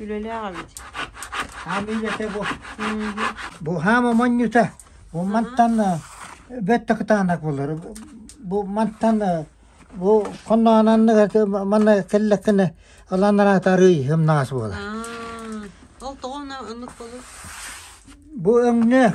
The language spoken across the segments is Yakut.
Үлэлээх эбит. Хаам үлэтэ бу. Бу хаама монньута. Бу мантан бөттө кытаанак болор. Бу мантан бу конноананныга манна кэллеккене аланнаратарый хымнаас буола. Ол тоҕо оннук болу? Бу өҥнөөх.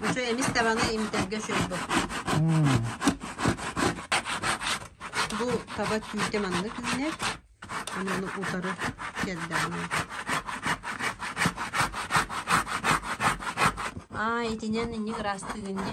Бу чэй эмис даҕаны имитэргэ үчүгэй буолбут Бу таба түүтэ маннык үүнэр, аны ону утары кэрдэҕинэ Аа, итинэн инник ыраастыыр иннэ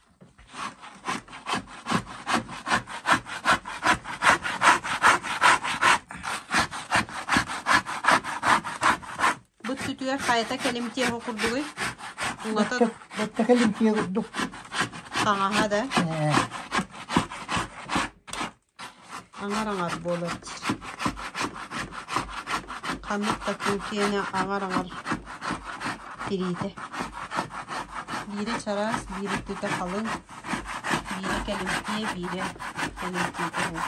Быт-сүтүгэр хайата кэлимтиэ оҕо курдугуй? Улата Бачча бачча кэлимтиэ курдук. таҥаһа да. Ээ. Аҥар-аҥар буолар диир Ханнык да кыыл киэнэ аҥар-аҥар тириитэ Биирэ чараас, биир өттүтэ халыҥ, биирэ кэлимтиэ, биирэ кэлимтиитэ буолар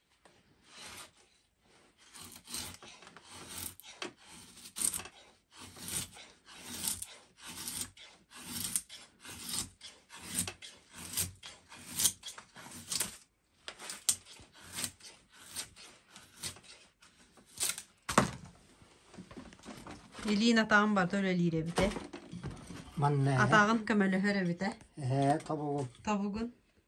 Илиин атаҕын барда үлэлиир эбитэ. Манна Атааҕын көмөлөһөр эбитэ. Э, тобугун. Тобугун.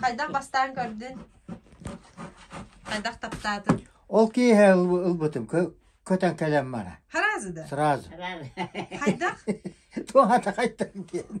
Хайдах бастаан көрдүн? Хайдах таптаатын? Ол киһи ылбытым көтөн кэлем мара. Сразу да? Сразу. Хайдах? Туохата қайттан кейін.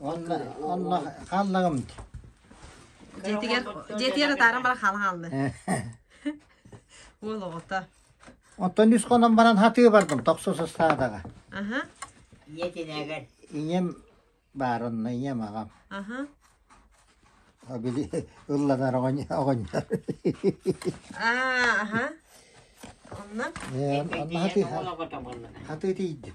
Онна онно хааллагымт. Дьиэтигэр дьиэтигэр атааран баран хаалан хаалны. Уол оҕото. Оттон үс хонон баран хатыы бардым тохсус ыстаадаҕа. Аха. Ийэ тинэгэр. Ийэм баарынна ийэм аҕам. Аха. А били ылланар оҕонньор. Аа, аха. Онно? Э, Онно хатыы хатыы тиийдим.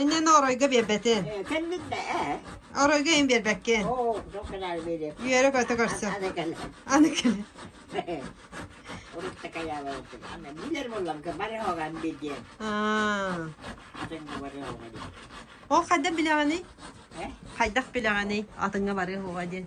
Инньэн оройго биэрбэтин. Оройго ин биэрбэккин. Үөрэ-көтө көрсө. Аны кэле. Ол хайдан билэҕэний? Хайдах билэҕэний? Атыңа барыа хоҕа диэн.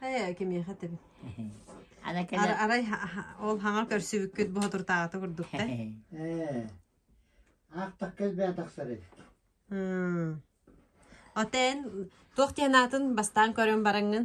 Ээ кимиэхэ этэбин арай ол хаҥа көрсүбүккүт боотуртаата курдук да аахтах кэлбээ тахсар эбит оттон туох диэн аатын бастаан көрөн бараҥҥын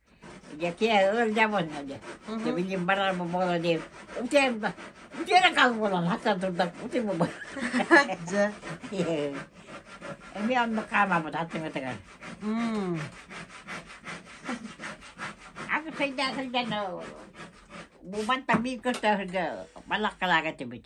Дьэкиэ ыалдьабын дьэ. Билим барар бу буола диир. Үтиэм да, үтиэрэ кал буолан, хатта турда, үтүм бу. Дьэ. Эми оннук хаамабыт аттыгытыгар. Ага сайда сайдан бубан тамир көтөһөргө балак калагатыбыт.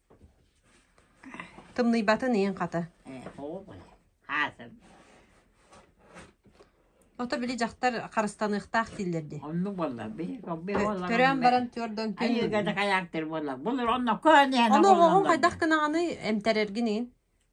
Тымныйбатын иин хата. Ото били дьахтар харыстаныахтаах дииллэр дии. Оннук боллар. Төрөөн баран түөрдөн күн. Айыыга да каяктыр боллар. Булur онно көн яна Ону оҕоҕун хайдах гынаҕыный эмтэрэргин иин?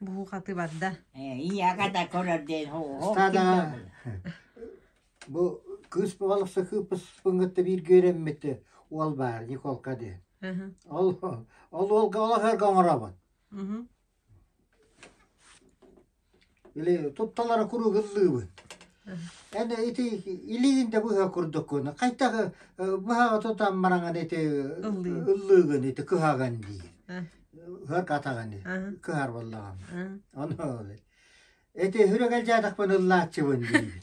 Буукатыбарда Бу кыыс бывалыкса кыыппыспын кытта бииргэ үөрэммитэ уол баар Николка дии. Ол ол уолга олохорго оҥоробун. Или тутталара куруук ыллыыбын. Эн ити илиигин да быһа курдуккун. Хайтах быһаҕа тутан мараҥан ити Ыллыыҥ. ыллыыгын ити кыһаҕан диир. Ыһык атаҕын кыһарбаллаҕым. Ону ити үрүгэл дьаатахпын ыллааччыбын диибин.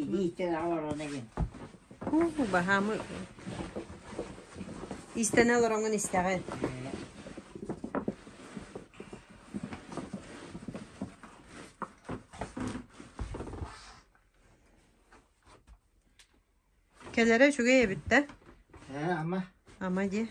Илиитэ олорон эҥин. Уу, баһаамы истэнэ олороҥун истэҕин. Кэлэрэ үчүгэй эбит да? Ээ, ама. Ама дии.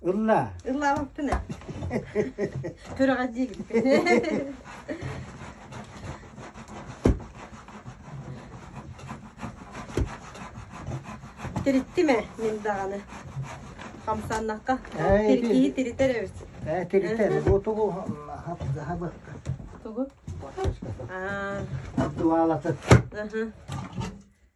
Ылла. Ыллаабаппын Күрэҕэ диигин. Тириттиме мин даҕаны. Хамсаннахха тиркиһи тиритер эбит. Э, тиритер. Бу тугу хабы. Тугу? А. Дуалаты.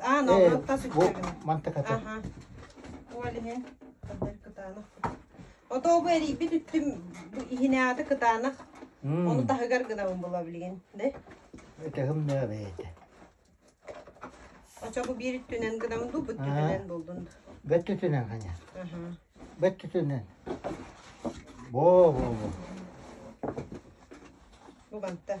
Аан олор тас үктэрин. Мантыката. Аха. Ол иһин кытаанах. Ото бу эрийбит үттүм иһинэаты кытаанах. Оны таһыгар гынабын була билигин. Да? Өтөҕүм нөө бэйэтэ. Оча бу биир үттүнэн гынабын ду бүттүтүнэн булдун. Бөттүтүнэн ханя. Аха. Бөттүтүнэн. Бо бо бо. Бу бантта.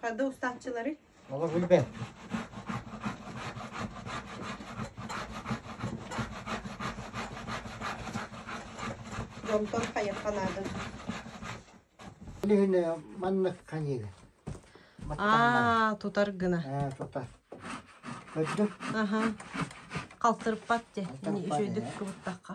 Хадда устааччылары. Олох билбэт. Дьонтон хайахха наада. Үлүһүнэ маннык канига. Аа, тутар гына. Э, тутар. Көрдүк? Аха. Халтырпат те. Үчөйдүк кыбыттахха.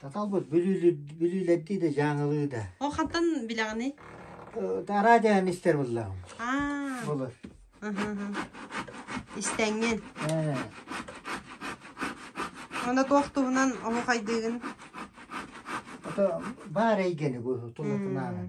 Таталбыт бүлүүлэрдии да дьааҥылыы да Ол хантан билэҕиний? радиоһын истэр буллаҕым Аа, Булар аха, аха. истэҥҥин. Ээ, Онно туох туһунан оһухайдыыгын? ото баар эйгэни бу тулатынаанан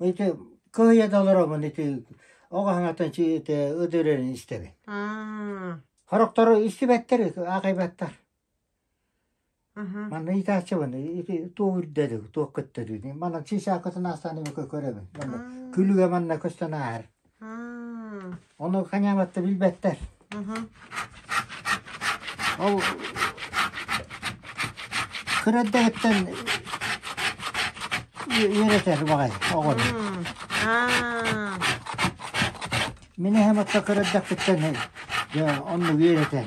ити кыайа да олороммун ити ол хаһаҥаттан ити ыдырырын истэбин. Хорохтору истибэттэр аахайбаттар. Манна ыйытааччыбын ити туох үрдэдик, туох көттөрүүдүй. Манан сисаакытын аастаан көрөбүн. Күлүгэ манна көстөн ааһар. Ону канябатта билбэттэр. Ол кыраддаһыттан үөрэтэр баҕай оҕону. Мин эһэм атта кыраддахтыттан оннук үөрэтэр.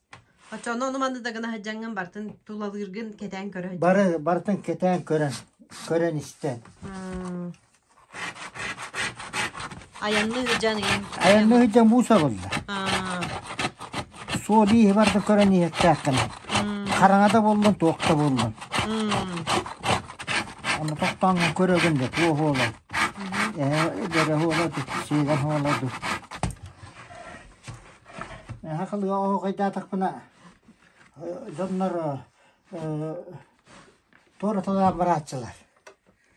Оччону ону манны да гына сылдьаҥҥын бартын тулалыыргын кэтээн көрө сылдьаҥ. Бары барытын кэтээн көрөн, көрөн истэн. Айанны сылдьан иһин. Айанна сылдьан буусабылла. Суол ииһи барытын көрөн иһэттээххинэ. Хараҥада буллун, туохта буллун. Ону тохтооҥҥын көрөгүн да туох уола. Эһэ, дэрэ уола дуу, сиигэн уола дуу. Наһаа халыга оһоҕойдаатахпына дьоннор туораталаан барааччылар.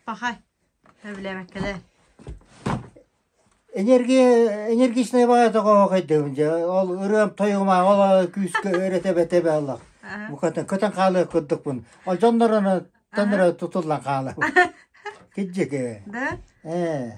Пахай, сөбүлээбэккэлэ. Энергия, энергичная баҕа тоҕо оһоҕойдобун дьэ. Ол ырыам тойугумаах ол күүскэ өрөтөбөтөбө олох. Букатын көтөн хаалыах курдукпун. Ол дьоннор тоннора тутуллан хаалабын. Китжиге. Да? Э.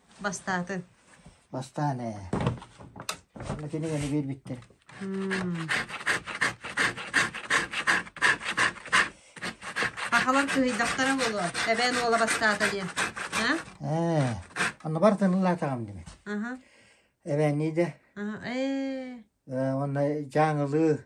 Бастааты. Бастаан ээ. Онно кини гэнэ биэрбиттэр. Пахалар кыһыйдахтара буолуо. Тэбээн уола бастаата диэн. Аа? Ээ. Онно бар тынылаатаҕым диме. Аха. Эбээннии да. Аха. Ээ. Онно Дьаангылыы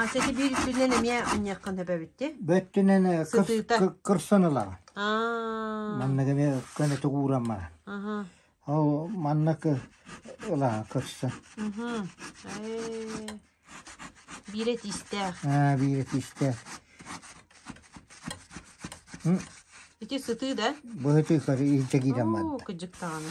Ася, ити биир үрдүнэн эмиэ мунньаххын сөп эбиттии? Бөттүнэн э, кыр, Сытыыта. кыр, кырсан ылаҕын. Аа, Маннык эмиэ көнөтүк ууран баран. аха, Ол маннык ылаҕын кырсан. мхм. Эй. Биирэ тистээх. Аа, биирэ тистэ. Ити сытыы да? Быһыты көр, илдьэ киирэн барда. Оо, кыдьык даҕаны.